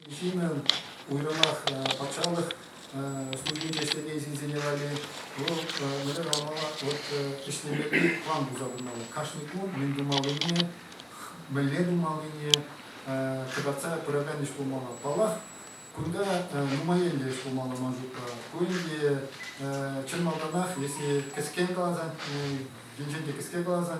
Кашни ҫыннӑн уйрӑмах патшалӑх службинче ӗҫлекен ҫынсене валли вӑл мӗнле калама вот ӗҫлеме план туса тумалла. Кашни кун мӗн тумаллине, мӗнле тумаллине кӑтартса пыракан ӗҫ пулмалла. Паллах, кунта нумаелле ӗҫ пулмалла ман шутпа. Ку ӗнтӗ чӑн малтанах, если кӗскен каласан, енчен те кӗске каласан,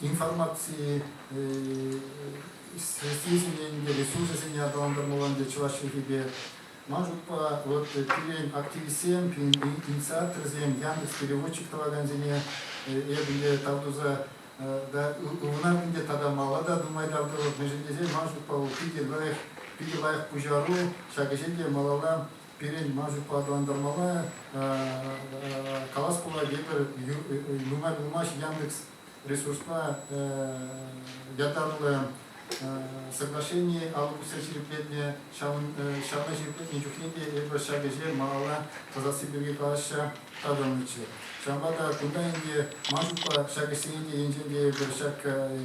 информаци средствисене те, ресурсӗсене аталантармалла ӗнтӗ чӑваш чӗлхипе. Ман шутпа, вот пирӗн активистсем, пирӗн инициаторсем, Яндекс переводчик тӑвакансене эпӗ е тав туса та ывӑнар ӗнтӗ тата мала та нумай тав тӑвӑп, мӗншӗн тесен ман шутпа вӑл питӗ лайӑх, питӗ лайӑх пуҫару, ҫак ӗҫе те малалла Пирӗн мансиппе аталантармалла калас пулать, эпир нумай пулмасть Яндекс ресурспа ятарлӑ соглашени алӑ пусса ҫирӗплетнӗ. Ҫавна ҫирӗплетнӗ чухне те эпир ҫак ӗҫе малалла тӑсасси пирки калаҫса татӑлнӑччӗ. Ҫавӑнпа та кунта ӗнтӗ мансиппа ҫак ӗҫсене те енчен те эпир ҫак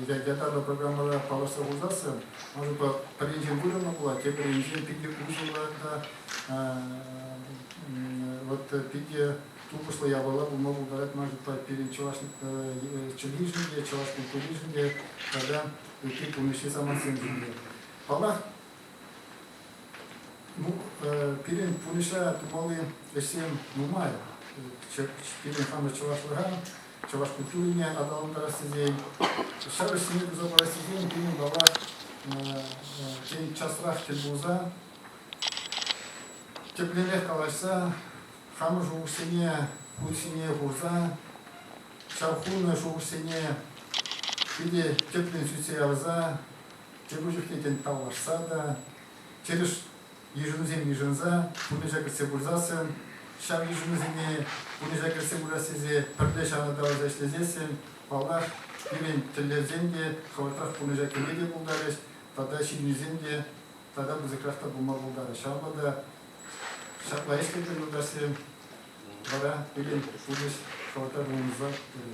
ятарлӑ программӑра паллашса пулсассӑн Унпа пӗринчен вырӑнлӑ пулать, тепӗринчен питӗ усӑллӑ вот питӗ тупӑшлӑ япала пулма пултарать ман шутпа пирӗн чӑваш чӗлхишӗн те, чӑваш культуришӗн те тата ытти пурнӑҫри самантсемшӗн те. Паллах, ну, пирӗн пурнӑҫра тумалли ӗҫсем нумай. Пирӗн хамӑр чӑвашлӑха чӑваш культурине аталантарас тесен, ҫар ӗҫсене туса парас тесен пирӗн тавах тен часрах тӗл пулса, тӗплӗнрех калаҫса, хамӑр шухӑшсене кун ҫине хурса, ҫав хунӑ шухӑшсене питӗ тӗплӗн сӳтсе явса, тепӗр чухне тен паллашса та, тӗрӗс Йышӑнусем йышӑнса пурнӑҫа кӗртсе пырсассӑн, ҫав йышӑнусене пурнӑҫа кӗртсе пырас тесе пӗрле ҫавӑртарса ӗҫлесессӗн, паллах, пирӗн тӗллевсем те хӑвӑртрах пурнӑҫа кӗме те пултарӗҫ тата ҫыннисем те тата пысӑкрах та пулма пултарӗҫ. Ҫавӑнпа та ҫапла ӗҫлетпӗр юлташсем. Вара пирӗн пурнӑҫ хӑвӑртрах улшӑнса тӑрӗ.